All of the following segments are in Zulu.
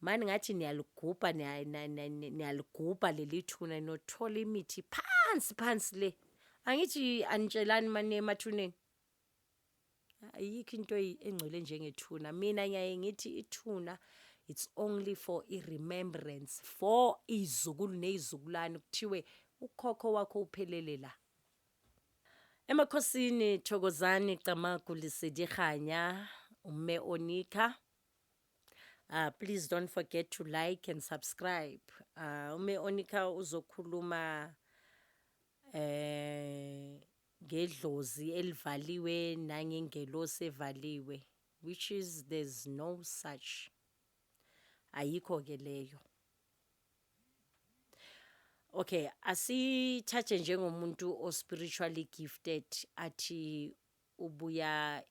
Mani ngathi niyalugubha niya- niya- niya- niya- niyalugubha leli thuna nothola imithi phansi phansi le angithi anitshelani mani emathuneni ayikho into eyi- engcwele njengethuna mina ngiyaye ngithi ithuna it's only for i-remembrance for iy'zukulu ney'zukulwane kuthiwe ukhokho wakho uphelele la emakhosini thokozani camagu lesedi kganya umme onikha Uh, please don't forget to like and subscribe. Uh, ume onika uzokhuluma eh ngedlozi elivaliwe nangengelosi evaliwe which is there's no such ayikho ke leyo okay asithathe njengomuntu o spiritually gifted athi ubuya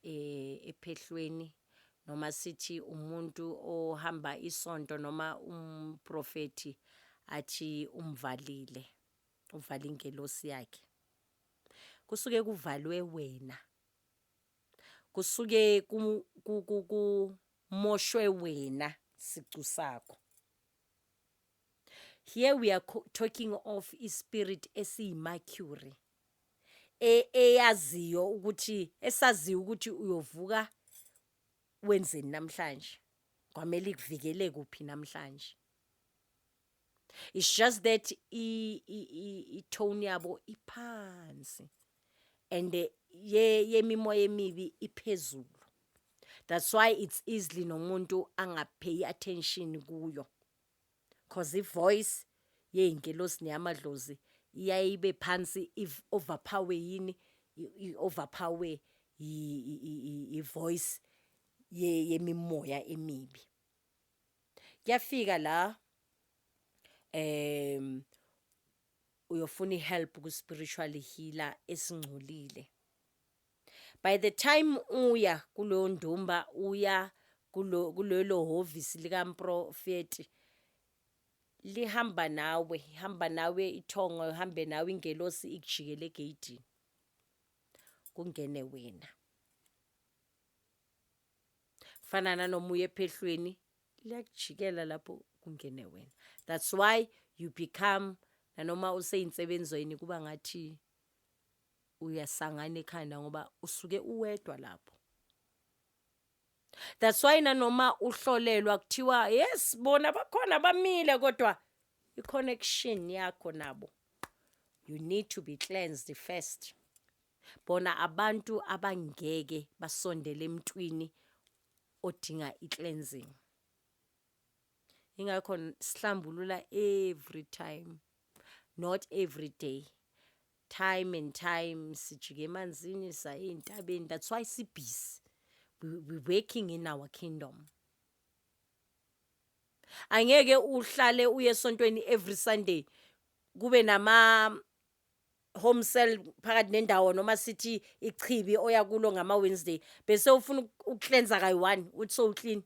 ephehlweni noma sithi umuntu ohamba isonto noma umprofethi athi umvalile uvala ingelosi yakhe kusuke kuvalwe wena kusuke kumoshwe wena sicu sakho here we are talking of ispirit esiyimercury e, eyaziyo ukuthi esaziyo ukuthi uyovuka wenzeni namhlanje kwamele ikuvikele kuphi namhlanje it's just that i tone yabo iphansi and eh, ye yemimoya emibi iphezulu that's why it's easily nomuntu angapheyi attention kuyo cause ivoice yeyingelosi neyamadlozi iyaye ibe phansi overpower yini overpower ivoice yemimoya emibi kuyafika la em uyofuna ihelp ku spiritual healer esingcolile by the time uya kuloyo ndumba uya kulelo hhovisi likamprofeti lihamba nawe ihamba nawe ithongo ihambe nawe ingelosi ikujikele egeyidini kungene wena fana nanoma uye ephehlweni liyakujikela lapho kungene wena that's why you become nanoma useyinsebenzi kuba ngathi uyasangana ekhanda ngoba usuke uwedwa lapho that's why nanoma uhlolelwa kuthiwa yes bona bakhona bamile kodwa i-connection yakho nabo you need to be cleansed first bona abantu abangeke basondele emntwini odinga i-cleansing ingakho sihlambulula every time not every day Time and time sijike emanzini saye ey'ntabeni that's why sibhizi we, we working in our kingdom angeke uhlale uye esontweni every sunday kube nama home cell phakathi nendawo noma sithi ichibi oya kulo ngama Wednesday bese ufuna ukucleansa kayi-one uthi so clean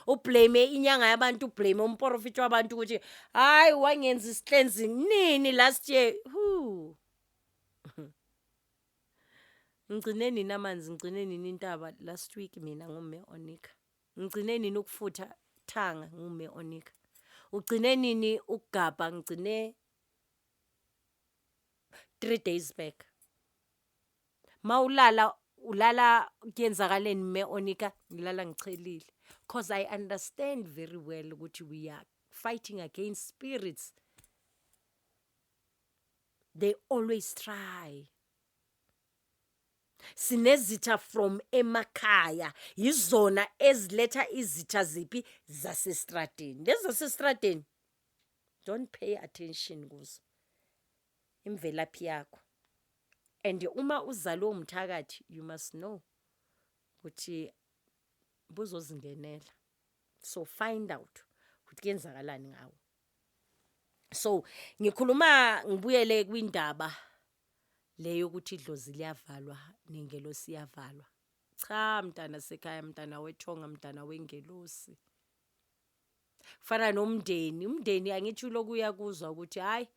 ublame inyanga yabantu ublame umporofiti wabantu ukuthi hayi wangenza isihlenzing nini last year Whew. ngigcine nini amanzi ngigcine nini intaba last week mina ngume onika ngigcine nini ukufutha thanga ngume onika ugcine nini ukugabha ngigcine three days back mawulala ulala kuyenzakaleni me onika ngilala ngichelile cause I understand very well ukuthi we are fighting against spirits they always try sinezitha from emakhaya yizona eziletha izitha ziphi zasestradeni lezi zasestradeni don't pay attention kuzo imvelaphi yakho and uma uzalwe umthakathi you must know ukuthi buzozingenela so find out ukuthi kuyenzakalani ngawo so ngikhuluma ngibuyele kwindaba leyo ukuthi idlozi liyavalwa nengelosi iyavalwa cha mntana sekhaya mntana wethonga mntana wengelosi Kufana nomndeni, umndeni angithi uloku uyakuzwa ukuthi hhayi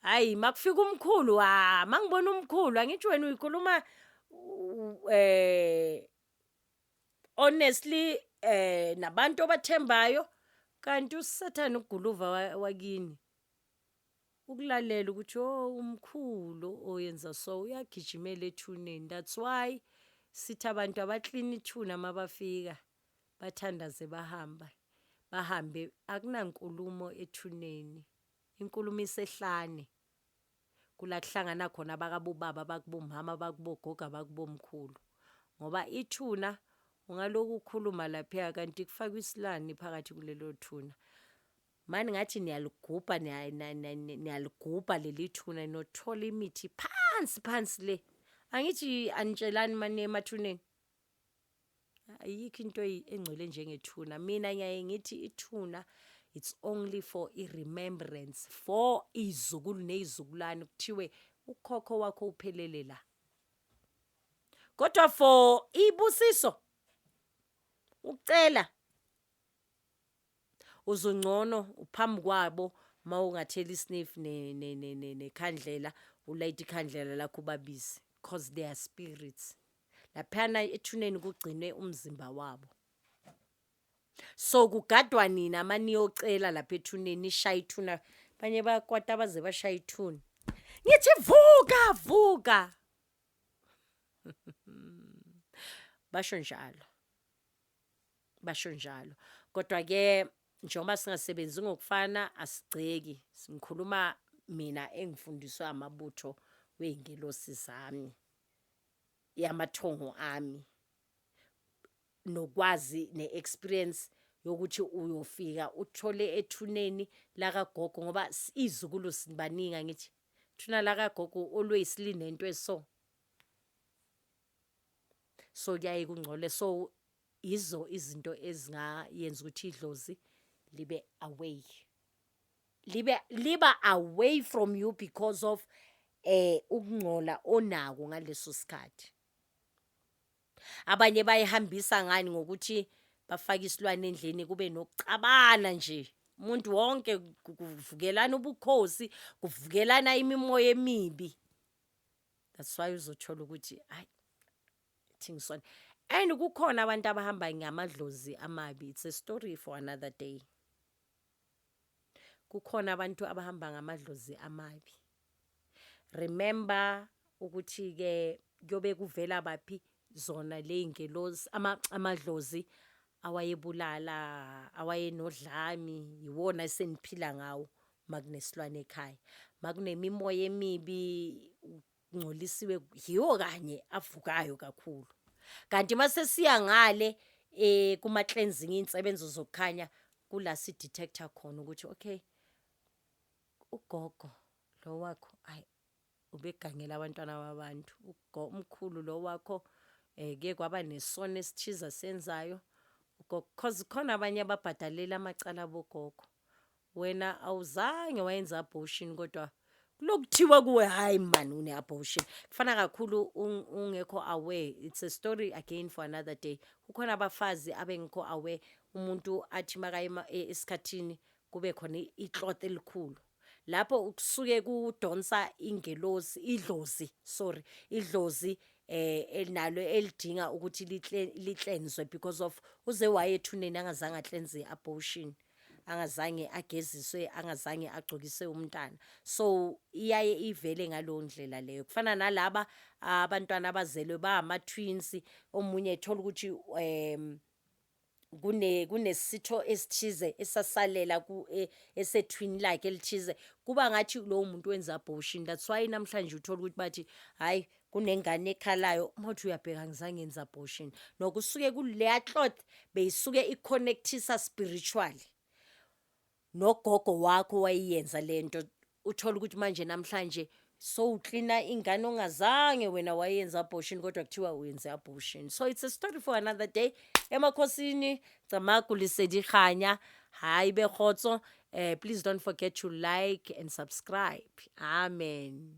hhayi makufika umkhulu ha ah, mangibona umkhulu angithi wena uyikhuluma eh honestly eh nabantu obathembayo kanti usathane uguluva wakini ukulalela ukuthi oh umkhulu oyenza so uyagijimela ethuneni that's why sithi abantu abaklina ithuna mabafika Bathandaze bahamba bahambe akunankulumo ethuneni inkulumo isehlane kula kuhlangana khona abakabobaba abakubomama abakubogogo abakubomkhulu ngoba ithuna ungaloku ukhuluma lapha kanti kufakwa isilani phakathi kulelo thuna mani ngathi niyaligubha niyaligubha leli thuna nothola imithi phansi phansi le angithi anitshelani mani emathuneni ayikho into engcwele njengethuna mina ngiyaye ngithi ithuna it's only for i-remembrance for izukulu neyizukulwane kuthiwe ukhokho wakho uphelele la kodwa for ibusiso ucela uzungcono phambi kwabo uma ungathela isniff nekhandlela ulayite ikhandlela lakho ubabize cause they are spirits laphana ethuneni kugcinwe umzimba wabo so kugadwa nina uma niyocela lapha ethuneni nishaye ithuna abanye bayakwata abaze bashaye ithuna ngithi vuka vuka basho njalo basho njalo kodwa ke njengoba singasebenzi ngokufana asigceki ngikhuluma mina engifundiswe amabutho wezingelosi zami yamathongo ami nokwazi neexperience yokuthi uyofika uthole ethuneni lakagogo ngoba izukulu sibaningi angithi thuna lakagogo olweyisilini nento eso so kuyaye kungcole so yizo izinto ezingayenza ukuthi idlozi libe away libe liba away from you because of eh ukungcola onako ngaleso sikhathi abanye bayihambisa ngani ngokuthi bafake isilwane endleni kube nokucabana nje umuntu wonke kuvukelana ubukhosi kuvukelana imimoya emibi that's why uzothola ukuthi hayi thingisona and kukhona abantu abahamba ngamadlozi amabi it's a story for another day kukhona abantu abahamba ngamadlozi amabi remember ukuthi ke kuyobe kuvela baphi zona ley'ngelosi amadlozi awayebulala awayenodlami yiwona eseniphila ngawo makunesilwane ekhaya makunemimoya emibi kungcolisiwe yiwo kanye avukayo kakhulu kanti masesiya ngale eh kuma cleansing insebenzo zokukhanya kula si detector khona ukuthi okay ugogo lo wakho ay Ubegangela abantwana babantu. Ugo umkhulu lo wakho eh ke kwaba nesono esithiza senzayo. Because khona abanye ababhadalela amacala bogogo. Wena awuzange wayenza abortion kodwa lokuthiwa kuwe hayi man une abortion. Kufana kakhulu ungekho aware. It's a story again for another day. Kukhona abafazi abengekho aware umuntu athi makaye e, esikhathini kube khona icloth elikhulu. lapho kusuke kudonsa ingelosi idlozi sorry idlozi eh nalo elidinga ukuthi liklenzwe because of uze wayethuneni angazange aklenze i-abortion angazange ageziswe angazange agcokise umntana so iyaye ivele ngaleyo ndlela leyo kufana nalaba abantwana abazelwe bama-twins omunye ethola ukuthi um kune kunesitho esithize esasalela ku e, esethwini lakhe elithize kuba ngathi lowo muntu wenza abortion that's why namhlanje uthola ukuthi bathi hayi kunengane ekhalayo uma uthi uyabheka ngizange yenza abortion nokusuke kuleya cloth beyisuke iconnectisa spiritually nogogo wakho wayiyenza lento uthola ukuthi manje namhlanje sowuklina ingane ongazange wena wayenza abortion kodwa kuthiwa wenze abortion so it's a story for another day emakhosini camagu lisedihanya hayi bekgotso eh, please don't forget to like and subscribe amen